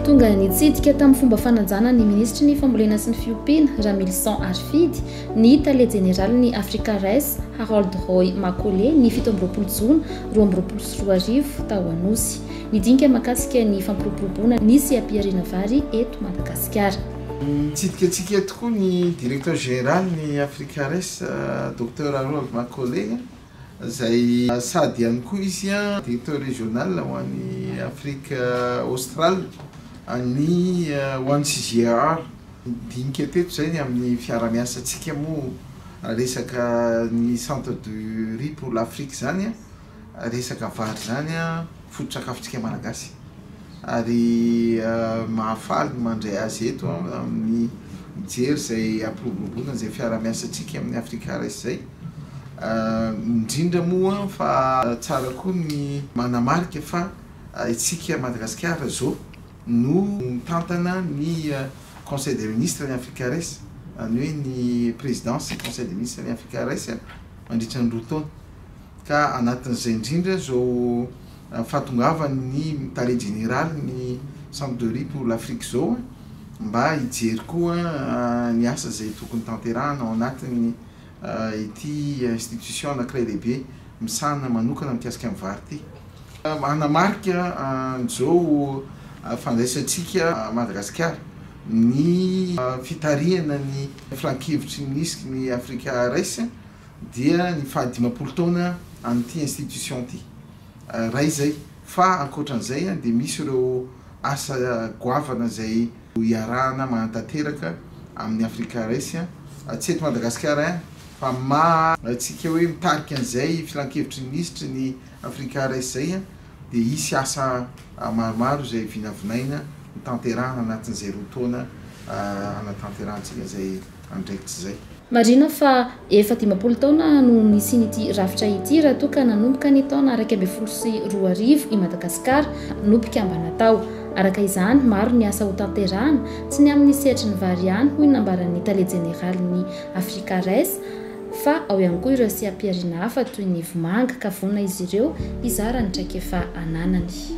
Tonga nitsidika tamin'ny fomba fanajana ny minisitry ny fambolena sy ny fiompiana, Ramilison Arifidy, ny tale jeneralin'ny Africa Rice, Harold Roy Makole, ny fito amby roapolo jona roa amby roapolo sy roa arivo, tao Anosy. Nidinika mahakasika ny fampiroboroboana ny seha-pihariana vary eto Madagasikara. Nitsidika antsika eto koa ny Directeur Général ny Africares, Docteur Harold Makole, izay sady ihany koa izy Directeur Régional ho an'i Afrique Australe an'ny ho an'ny CGEAR. Nidinika teto izay ny amin'ny fiarahamiasantsika moa resaka ny Centre du Riz pour l'Afrique izany. Resaka vary izany foto-tsakafontsika Malagasy ary mahafaly ny mandray azy eto amin'ny mijery izay hampiroboroboana izay fiarahamiasantsika amin'ny Africa Rice izay. Indrindra moa fa tsara koa ny manamarika fa isika Madagasikara izao no mitantana ny Conseil des Ministres ny Africa Rice, izany hoe ny Présidence Conseil des Ministres ny Africa Rice mandritra ny roa taona. ka anatin'izay indrindra izao fahatongavan'ny tale jeneraly ny Sampdoria pour l'Afrique izao mba hijery koa ny asa izay tokony tanterahana ao anatin'ny ity institution anankiray lehibe misahana manokana mikasika ny vary ity. Manamarika an'izao fandraisantsika an'i Madagasikara ny fitarihana ny filankevitry ny Isc ny Africa Race, dia ny faha dimampolo taona an'ity institution ity ray izay fa ankoatran'izay dia misy ireo asa goavana izay ho iarahana mahantanteraka amin'ny Africa Race tsy eto Madagasikara ihany fa maha antsika hoe mitarika an'izay filankevitry ny minisitry ny Africa Race izay dia hisy asa maromaro izay vinavinaina ho tanterahana anatin'izay roa taona hanatanterahantsika izay andraikitra izay. Marihina fa efa dimampolo taona no nisian'ity rafitra ity raha toa ka nanomboka ny taona iraika ambin'ny folo sy roa arivo i Madagasikara no mpikambana tao. Araka izany, maro ny asa hotanterahana, tsy ny amin'ny sehatry ny vary ihany hoy ny nambaran'ny tale jeneralin'ny Africares fa ao ihany koa ireo seha-pihariana hafa toy ny vomanga ka vonona izy ireo hizara ny traikefa ananany.